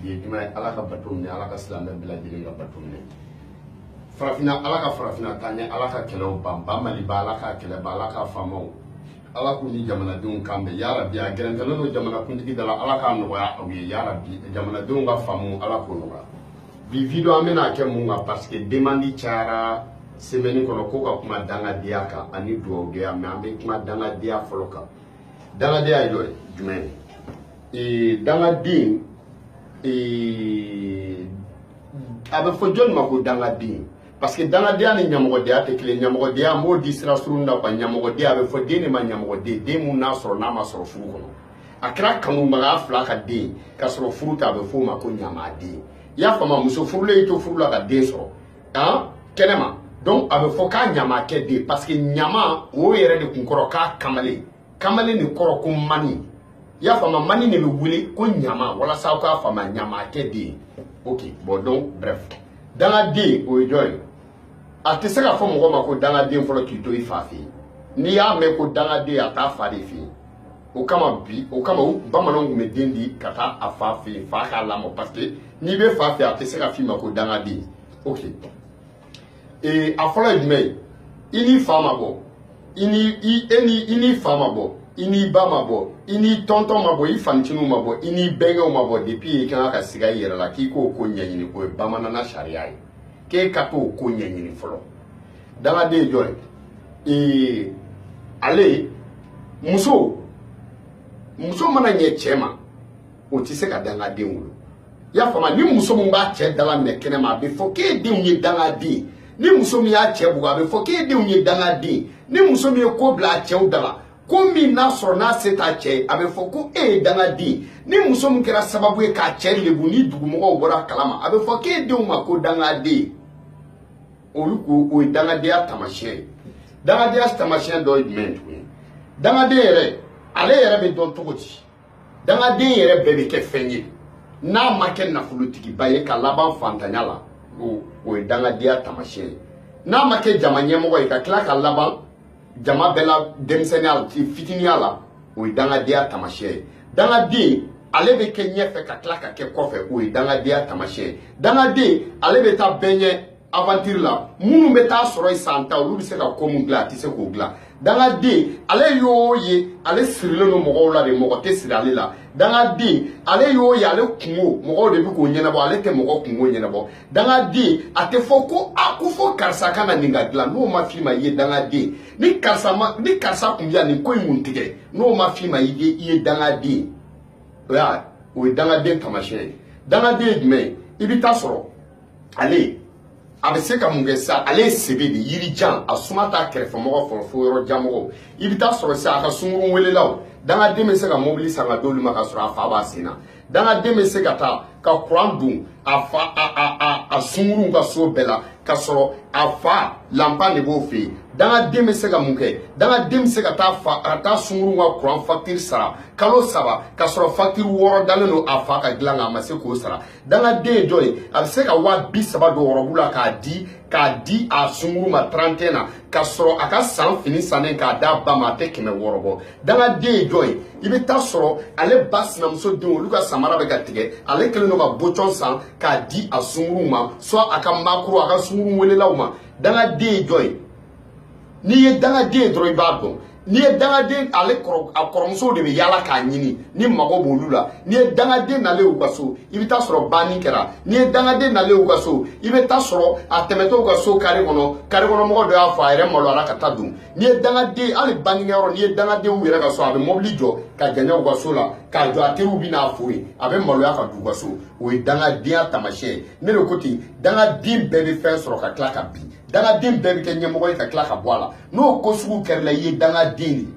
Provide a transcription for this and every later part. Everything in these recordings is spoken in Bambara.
bi ye juma ye ala ka bato minɛ ala ka silamɛ bɛɛ lajɛlen ka bato minɛ farafina ala ka farafina taa ɲɛ ala ka kɛlɛw ban ba maliba ala ka kɛlɛ ban ala ka faamaw ala k'u ni jamanadenw kan bɛn yarabi a gɛrɛntɛlen don jamanakuntigi da la ala k'a nɔgɔya aw ye yarabi jamanadenw ka faamu ala k'o nɔgɔya bi video an bɛna kɛ mun kan parce que demandi cayara semaine kɔnɔ ko ka kuma dangadenya kan ani dugawudenya mais an bɛ kuma dangadenya fɔlɔ kan dangadenya ye dɔ ye jumɛn ye dangaden a bɛ fɔ jɔni ma ko dangaden parce que dangadenya ni ɲamɔgɔdenya tɛ kelen ɲamɔgɔdenya n b'o di sira surun na quoi ɲamɔgɔdenya a bɛ fɔ den de ma ɲamɔgɔden den mun n'a sɔrɔ n'a ma sɔrɔ furu kɔnɔ a kɛra kanubaga fila ka den ka sɔrɔ furu tɛ a bɛ f'o ma ko ɲamaden i y'a faamu muso furulen y'i to furu la ka den sɔrɔ an kɛnɛma donc a bɛ fɔ k'a ɲamakɛ den parce que ɲama o yɛrɛ de kun kɔrɔ k'a kamalen kamalen de kɔrɔ ko mani i y'a faamu mani de bɛ wele ko ɲama walasa aw k'a faamu ɲamakɛ den ok bon donc bref dangaden o ye jɔn ye a tɛ se ka fɔ mɔgɔ ma ko dangaden fɔlɔ k'i to i fa fɛ yen n'i y'a mɛn ko dangaden a t'a fa de fɛ yen o kama bi o kama u bamananw tun bɛ den di ka taa a fa fɛ yen fa k'a lamɔ parce que n'i bɛ fa fɛ a tɛ se ka f'i ma ko dangaden ok ee a fɔlɔ ye jumɛn ye i n'i fa ma bɔ i ni i e ni i n'i fa ma bɔ i n'i ba ma bɔ i n'i tɔntɔn ma bɔ i fancininw ma bɔ i n'i bɛnkɛw ma bɔ depuis i kan ka siga i yɛrɛ la k'i k'o ko ɲɛɲini o ye bamanana sariya ye k'e ka t'o ko ɲɛɲini fɔlɔ dangaden ye jɔn ye ee ale muso muso mana ɲɛ cɛ ma o tɛ se ka dangaden wolo i y'a faamu ni muso min b'a cɛ dalaminɛ kɛnɛ ma a bɛ fɔ k'e denw ye dangaden ni muso min y'a cɛ bugɔ a bɛ fɔ k'e denw ye dangaden ni muso min ye ko bila a cɛw da la ko min n'a sɔrɔ n'a se t'a cɛ ye a bɛ fɔ ko e ye dangaden ni muso min kɛra sababu ye k'a cɛ lebu ni dugumɔgɔw bɔr'a kalama a bɛ fɔ k'e denw ma ko dangaden olu ko o ye dangadenya taamasiyɛn ye dangadenya taamasiyɛn dɔ ye jumɛn ye tuguni dangaden yɛrɛ ale yɛrɛ bɛ dɔn cogo di dangaden yɛrɛ bɛɛ bɛ kɛ fɛn ye n'a ma kɛ nafolotigiba ye ka laban fantanya la o ye dangadenya taamasiyɛn ye n'a ma kɛ jama ɲɛmɔgɔ ye ka tila ka laban jama bɛɛ la denmisɛnninya la fitiniya la o ye dangadenya taamasiyɛn ye dangaden ale bɛ kɛ ɲɛfɛ ka tila ka kɛ kɔfɛ o ye dangadenya taamasiyɛn ye dangaden ale bɛ taa bɛɛ ɲɛ aventure la minnu bɛ t'a sɔrɔ yen san tan olu bɛ se ka ko mun dilan a tɛ se k'o dilan dangaden ale y'o ye ale sirilen don mɔgɔw la de mɔgɔ tɛ siri ale la dangaden ale y'o ye ale kunko mɔgɔw de bɛ k'o ɲɛnabɔ ale tɛ mɔgɔ kunko ɲɛnabɔ dangaden a tɛ fɔ ko a ko fo karisa ka na nin ka dilan n'o ma f'i ma i ye dangaden ni karisa kun bɛ yan nin ko in kun tɛ kɛ n'o ma f'i ma i ye dangaden o y'a o ye dangaden taamasiyɛn ye dangaden ye jumɛn ye i bɛ taa sɔrɔ ale a bɛ se ka mun kɛ sa ale ye sebe de yiri jan a suma t'a kɛrɛfɛmɔgɔ sɔrɔ fo yɔrɔjanmɔgɔw i bɛ taa sɔrɔ sa a ka sunkurun welelaw dangaden bɛ se ka mobili san ka d'olu ma ka sɔrɔ a fa b'a sen na dangaden bɛ se ka taa ka kuran don a sunkuru ka so bɛɛ la ka sɔrɔ a fa lanpan de b'o fɛ yen dangaden bɛ se ka mun kɛ dangaden bɛ se ka taa sunkuru ka kuran fakitiri sara kalo saba ka sɔrɔ fakitiri wɔɔrɔ dalen don a fa ka dilan kan a ma se k'o sara dangaden ye jɔn ye a bɛ se ka waa bi saba don ɔrɔbu la k'a di a sunkuru ma 31 na ka sɔrɔ a ka san fini sannen k'a d'a ba ma a tɛ kɛmɛ wɔɔrɔ bɔ dangaden ye jɔn ye i bɛ taa sɔrɔ ale ba sinamuso denw olu ka samara bɛ ka tigɛ ale kɛlen don ka bocɔn san k'a di a sunkuru ma soit a ka makoro a ka sunkuru welelaw ma dangaden ye jɔn ye n'i ye dangaden ye dɔrɔn i b'a dɔn n'i ye dangaden ale kɔrɔ a kɔrɔmusow de bɛ yaala k'a ɲini ni mago b'olu la n'i ye dangaden nalen y'u ka so i bɛ taa sɔrɔ banni kɛra n'i ye dangaden nalen y'u ka so i bɛ taa sɔrɔ a tɛmɛtɔ u ka so kare kɔnɔ kare kɔnɔ mɔgɔ dɔ y'a fɔ a yɛrɛ maloyara ka taa don n'i ye dangaden hali bannikɛyɔrɔ n'i ye dangaden u yɛrɛ ka so a bɛ mɔbili jɔ ka janya u ka so la k'a jɔ a teriw bɛ n'a fo yen a bɛ maloya ka don u ka so o ye dangadenya taamasiyɛn ye ne de ko ten dangaden bɛɛ bɛ fɛn sɔrɔ ka tila ka bin dangaden bɛɛ bɛ kɛ ɲɛmɔgɔ ye ka tila ka bɔ a la n'o ko sugu kɛr'i la i ye dangaden de ye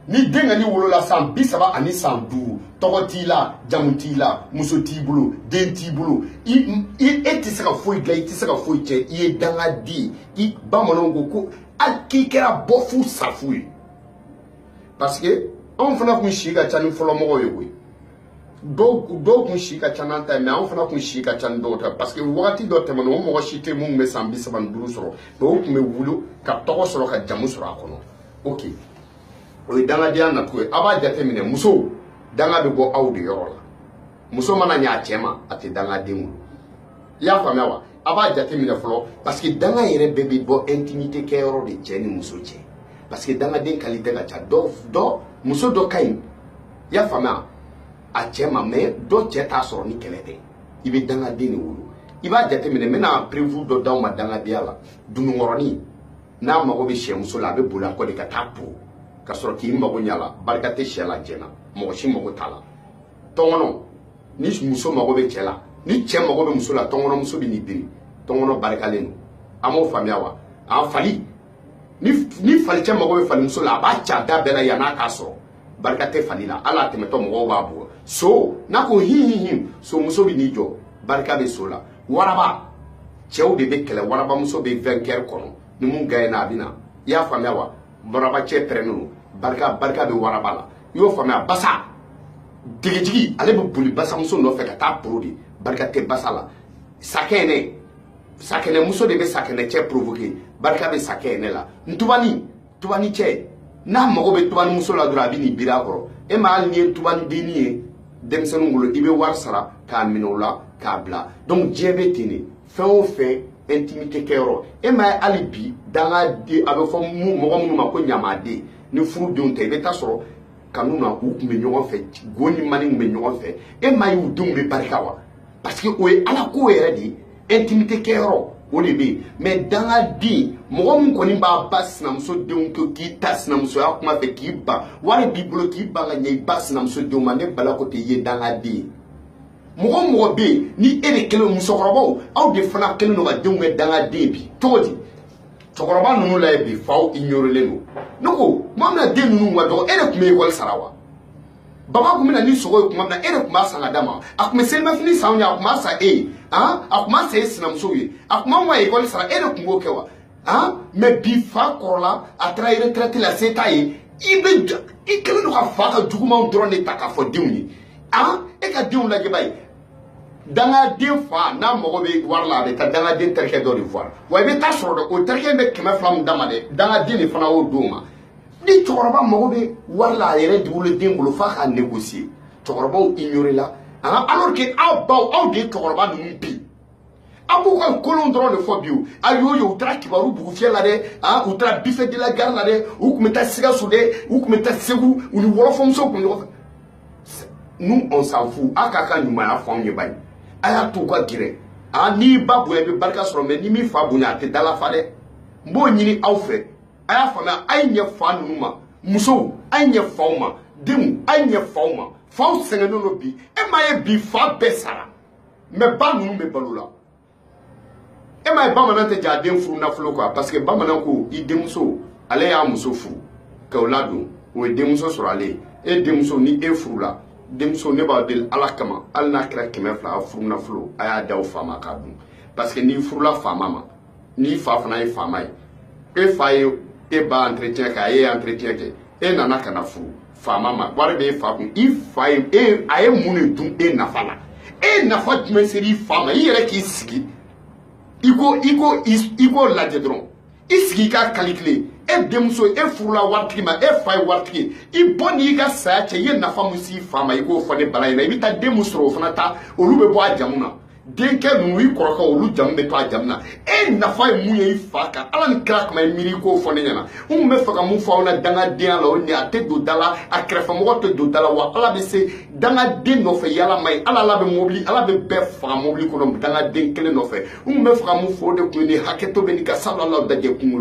ni denkɛnin wolola san bi saba ani san duuru tɔgɔ t'i la jamu t'i la muso t'i bolo den t'i bolo e tɛ se ka foyi dilan i tɛ se ka foyi cɛn i ye dangaden ye i bamananw ko ko hali k'i kɛra bɔfu safu ye parce que anw fana kun si ka ca ni fɔlɔmɔgɔw ye koyi dɔw dɔw kun si ka ca n'an ta ye mais anw fana kun si ka ca ni dɔw ta parce que wagati dɔ tɛmɛna o mɔgɔ si tɛ min bɛ san bi saba ni duuru sɔrɔ mais o kun bɛ wuli ka tɔgɔ sɔrɔ ka jamu sɔrɔ a kɔnɔ ok o ye dangadenya nacogo ye a b'a jate minɛ musow danga bɛ bɔ aw de yɔrɔ la muso mana ɲa a cɛ ma a tɛ dangaden wolo i y'a faamuya wa a b'a jate minɛ fɔlɔ parce que danga yɛrɛ bɛɛ bɛ bɔ intimité kɛyɔrɔ de cɛ ni muso cɛ parce que dangaden qualité ka ca dɔ dɔ muso dɔ ka ɲi i y'a faamuya a cɛ ma mais dɔ cɛ t'a sɔrɔ ni kɛlɛ tɛ i bɛ dangaden de wolo i b'a jate minɛ n bɛna preuve dɔ d'aw ma dangadenya la dununkɔrɔnin n'a mago bɛ sɛmuso la a bɛ boli a kɔ de ka taa po ka sɔrɔ k'i mago ɲa a la barika tɛ sɛ la jɛn na mɔgɔ si mago t'a la tɔnkɔnɔ ni muso mago bɛ cɛ la ni cɛ mago bɛ muso la tɔnkɔnɔmuso bɛ n'i biri tɔnkɔnɔ barikalen don a m'o faamuya wa a fali ni falicɛ mago bɛ falimuso la a b'a ca da bɛɛ la yann'a k'a sɔrɔ barika tɛ fali la hali a tɛmɛtɔ mɔgɔw b'a bugɔ so n'a ko hihihi so muso bɛ n'i jɔ barika bɛ so la waraba cɛw de bɛ kɛlɛ warabamuso bɛ vainqueur kɔnɔ ni min gagner na a bɛ na i y'a faamuya wa waraba cɛ pɛrɛnnen don barika barika bɛ waraba la i y'o faamuya basa degejigi ale bɛ boli basamuso nɔfɛ ka t'a poron de barika tɛ basa la sakɛnɛ sakɛnɛmuso de bɛ sakɛnɛ cɛ provoquer barika bɛ sakɛnɛ la ntubani tubani cɛ n'a mago bɛ tubani muso la dɔrɔn a bɛ n'i biri a kɔrɔ e ma hali n'i ye tubani denni ye denmisɛnninw bolo i bɛ wari sara k'a minɛ o la k'a bila donc diɲɛ bɛ ten de fɛn o fɛn intimité kɛyɔrɔ e ma ye hali bi dangaden a bɛ fɔ mɔgɔ minnu ma ko ɲamaden ni furudenw tɛ i bɛ taa sɔrɔ kanu na u tun bɛ ɲɔgɔn fɛ go ni mani tun bɛ ɲɔgɔn fɛ e ma ye u denw bɛ barika wa parce que o ye ala ko yɛrɛ de ye intimité kɛyɔrɔ o de bɛ yen mais dangaden mɔgɔ min kɔni b'i ba sinamuso denw to k'i ta sinamusoya kuma fɛ k'i ban wari b'i bolo k'i ban ka ɲɛ i ba sinamuso denw ma ne bala ko tɛ i ye dangaden ye mɔgɔ o mɔgɔ bɛ yen ni e de kɛlen musokɔrɔbaw aw de fana kɛlen don ka denw kɛ dangaden bi cogo di cɛkɔrɔba ninnu lajɛ bi faw ignorelen don ne ko tuma min na den ninnu ka dɔgɔ e de tun bɛ ekɔli sara wa baba tun bɛ na ni sogo ye tuma min na e de tun b'a san ka d'a ma a tun bɛ selimafini san i ye a tun b'a san e ye han a tun b'a san e sinamusow ye a tun b'anw ka ekɔli sara e de tun b'o kɛ wa han mais bi fa kɔrɔla a taara retraite la se t'a ye i bɛ i kɛlen don ka fa ka jugumanw dɔrɔn de ta k'a fɔ denw ye han e ka denw lajɛ ba ye dangaden fa n'a mago bɛ wari la a bɛ taa dangaden terikɛ dɔ de voir i bɛ taa sɔrɔ dɛ o terikɛ in bɛ kɛmɛ fila min d'a ma dɛ dangaden de fana y'o d'o ma ni cɛkɔrɔba mago bɛ wari la a yɛrɛ dugulen den bolo f'a ka négocier cɛkɔrɔbaw ignorer la an ka alors que aw baw aw de ye cɛkɔrɔba ninnu bi aw b'u ka kolon dɔrɔn de fɔ bi o a y'o ye u taara kibaru bugufiyɛ la dɛ a u taara buffet de la gare la dɛ u tun bɛ taa sikaso dɛ u tun bɛ taa segu u ni wɔlɔfɔmuso tun ɲɔgɔn fɛ nous on s'en fout a k'a ka ɲumanya fɔ anw ye bani a y'a to u ka gɛrɛ a n'i ba bonya i bɛ barika sɔrɔ mais n'i m'i fa bonya a tɛ dalafa dɛ n b'o ɲini aw fɛ a y'a faamuya a ye ɲɛ fa ninnu ma musow a ye ɲɛ faw ma denw a ye ɲɛ faw ma faw sɛgɛnnen don bi e m'a ye bi fa bɛɛ sara mais ba ninnu bɛ balo la e m'a ye bamanan tɛ jɛ a den furunafolo kɔ parce que bamanan ko i denmuso ale y'a muso furu ka o ladon o ye denmuso sɔrɔ ale ye e denmuso ni e furula denmuso ne b'a deli ala kama hali n'a kɛra kɛmɛ fila a furunafolo a y'a d'a fa ma k'a dun parce que n'i furula faama ma n'i fa fana ye faama ye e fa ye e ba entretien kɛ a ye entretien kɛ e nana ka na furu faama ma wari bɛ e fa kun i fa ye a ye mun de dun e nafa la e nafa jumɛn sera i fa ma i yɛrɛ k'i sigi i k'o lajɛ dɔrɔn i sigi i ka kalikile e denmuso e furula waritigi ma e fa ye waritigi i bɔ n'i ka saya cɛ i ye nafa mun s'i fa ma i k'o fɔ ne bala ɲɛna i bɛ taa den mun sɔrɔ o fana ta olu bɛ bɔ a jamu na denkɛ ninnu i kɔrɔkɛ olu jamu bɛ to a jamu na e nafa ye mun ye i fa kan ala ni kira kama i miiri k'o fɔ ne ɲɛna n tun bɛ fɛ ka mun fɔ aw la dangadenya la o ni a tɛ don da la a kɛrɛfɛmɔgɔ tɛ don da la wa ala bɛ se dangaden nɔfɛ yaala man ɲi ala ala bɛ mobili ala bɛ bɛɛ faga mobili kɔnɔ dangaden kelen nɔfɛ n tun bɛ fɛ ka mun fɔ o de kun ye nin hakɛto bɛ nin kan sabula ala dajɛ kunkolo